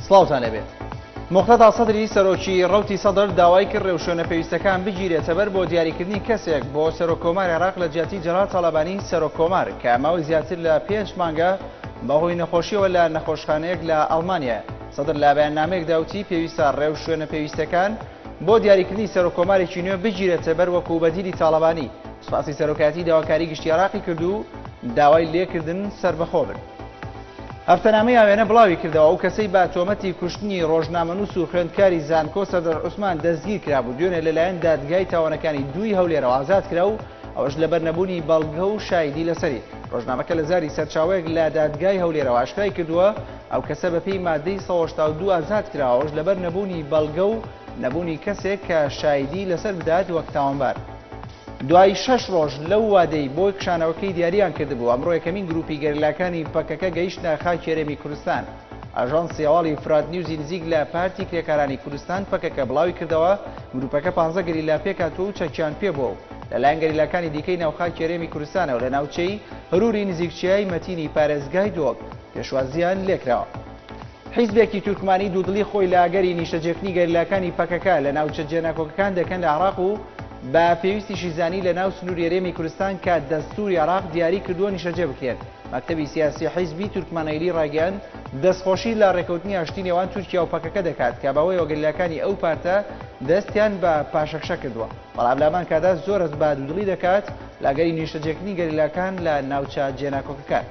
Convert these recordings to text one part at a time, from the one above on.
سڵاوتان لێبێت مختدا سەدری سەرۆکی ڕوتی سەدر داوای کرد ڕێوشوێنە پێویستەکان بگیرێتەبەر بۆ دیاریکردنی کەسێک بۆ سەرۆک کۆمار عێراق لە جیاتی جەرا تاالبانی سەرۆک کۆمار کە ماوەی زیاتر لە پێنج مانگە بەهۆی نەخۆشیەوە لە نەخۆشخانەیەک لە ئەڵمانیا سەدر لە بەیان نامێک داوتی پێویستە ڕێو شوێنە پێویستەکان بۆ دیاریکردنی سەرۆک کۆمارێکی نوێ بگیرێتەبەر وەکو بەدیلی تاالبانی سپاسی سەرۆکایەتی داواکاری گشتی عێراقی کرد و داوای لێکردن سەربەخۆ بن. هەفتەنامەی ئاوێنە بڵاوی کردەوە، ئەو کەسەی بە تۆمەتی کوشتنی ڕۆژنامەنووس و خوێندکاری زانکۆ سەردەر عوسمان دەستگیر کرابوو، دوێنێ لەلایەن دادگای تاوانەکانی دووی هەولێرەوە ئازاد کرا و ئەوەش لەبەر نەبوونی بەڵگە و شایدی لەسەری. ڕۆژنامەکە لە زاری سەرچاوەیەک لە دادگای هەولێرەوە ئاشکرای کردووە، ئەو کەسە بەپێی ماددەی سەد و هەشتا و دوو ئازاد کراوە، ئەوەش لەبەر نەبوونی بەڵگە و نەبوونی کەسێک کە شایدی لەسەر بدات وەک تاوانبار. دوای شەش ڕۆژ لەو وادەی بۆ کشانەوەکەی دیاریان کردبوو ئەمڕۆ یەکەمین گروپی گەریلاکانی پەکەکە گەیشتە خاکی هەرێمی کوردستان. ئاژانسی هەواڵی فرات نیوزی نزیک لە پارتی کرێکارانی کوردستان پەکەکە بڵاوی کردەوە گروپەکە پانزە گەریلا پێکهاتووە و چەکیان پێبووە و لەلایەن گەریلاکانی دیکەی ناوخاکی هەرێمی کوردستانەوە لە ناوچەی هەروری نزیک چیای مەتینی پارێزگای دۆڵ پێشوازییان لێکراوە. حیزبێکی تورکمانی دوودڵی خۆی لە ئەگەری نیشتەجێکردنی گەریلاکانی پەکەکە لە ناوچە جێناکۆکەکان دەکەن لە عێراق و بە پێویستیشی زانی لە ناو سنووری هەرێمی کورستان کە دەستووری عێراق دیاری کردووە نیشتەجێ بکرێن. مەکتەبی سیاسی حیزبی تورکمانەیلی ڕایگەیاند، دەستخۆشی لە ڕێککەوتنی ئاشتی نێوان تورکیا و پەکەکە دەکات کە بەوەیەوە گەریلاکانی ئەو پارتە دەستیان بە پاشەکشە کردووە، بەڵام لە هەمان کاتدا زۆر هەست بە دوودڵی دەکات لە ئەگەری نیشتەجێکردنی گەریلاکان لە ناوچە جێناکۆکەکان.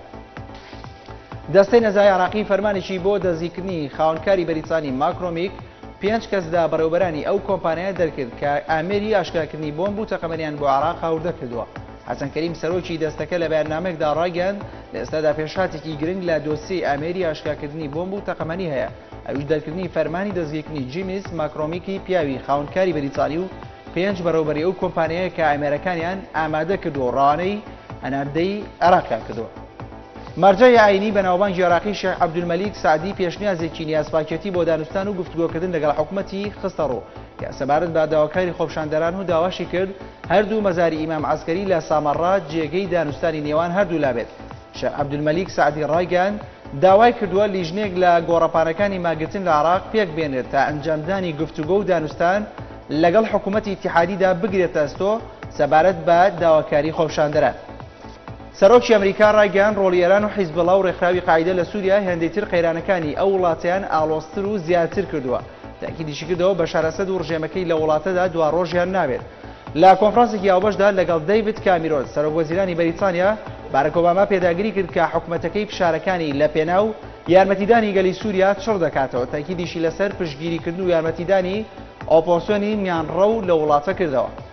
دەستەی نەزای عێراقی فەرمانێکی بۆ دەستگیکردنی خاوەنکاری بەریتانی ماکرۆمیک پێنج کەس لە بەڕێوەبەرانی ئەو کۆمپانیایە دەرکرد کە ئامێری ئاشکراکردنی بۆمب و تەقەمەنیان بۆ عێراق هاوردە کردووە. حەسەن کەریم سەرۆکی دەستەکە لە بەیاننامەیەکدا ڕایگەیاند، لە ئێستادا پێشهاتێکی گرنگ لە دۆسیەی ئامێری ئاشکراکردنی بۆمب و تەقەمەنی هەیە، ئەویش دەرکردنی فەرمانی دەستگیرکردنی جیمیس ماکرۆمیکی پیاوی خاوەنکاری بەریتانی و پێنج بەڕێوەبەری ئەو کۆمپانیایە کە ئامێرەکانیان ئامادە کردووە و ڕەوانەی هەناردەی عێراقیان کردووە. مەرجەعی ئایینی بەناوبانگی عێراقی شێخ عەبدولمەلیک سەعدی پێشنیازێکی نیازپاکێتی بۆ دانوستان و گفتوگۆکردن لەگەڵ حکومەتی خستەڕوو کە سەبارەت بە داواکاری خۆپیشاندەران و داواشی کرد هەردوو مەزاری ئیمام عەسکەری لە سامەڕا جێگەی دانوستانی نێوان هەردوولا بێت. شێخ عەبدولمەلیک سەعدی ڕایگەیاند، داوای کردووە لیژنەیەک لە گۆڕەپانەکانی مانگرتن لە عێراق پێکبێنرێت تا ئەنجامدانی گفتوگۆ و دانوستان لەگەڵ حکومەتی ئیتیحادیدا بگرێتە ئەستۆ سەبارەت بە داواکاری خۆپیشاندەران. سەرۆکی ئەمریکا ڕایگەیاند، ڕۆڵی ئێران و حیزبوڵا و ڕێکخراوی قاعیدە لە سووریا هێندەی تر قەیرانەکانی ئەو وڵاتەیان ئاڵۆزتر و زیاتر کردووە. تاکیدیشی کردەوە، بەشار ئەسەد و ڕژێمەکەی لە وڵاتەدا دواڕۆژیان نابێت. لە کۆنفرانسێکی هاوبەشدا لەگەڵ دەیڤد کامیرۆن، سەرۆک وەزیرانی بەریتانیا، بارک ئۆباما پێداگری کرد کە حکومەتەکەی فشارەکانی لەپێناو یارمەتیدانی گەلی سووریا چڕ دەکاتەوە، تاکیدیشی لەسەر پشتگیریکردن و یارمەتیدانی ئۆپۆسیۆنی میانڕەو لە وڵاتە کردەوە.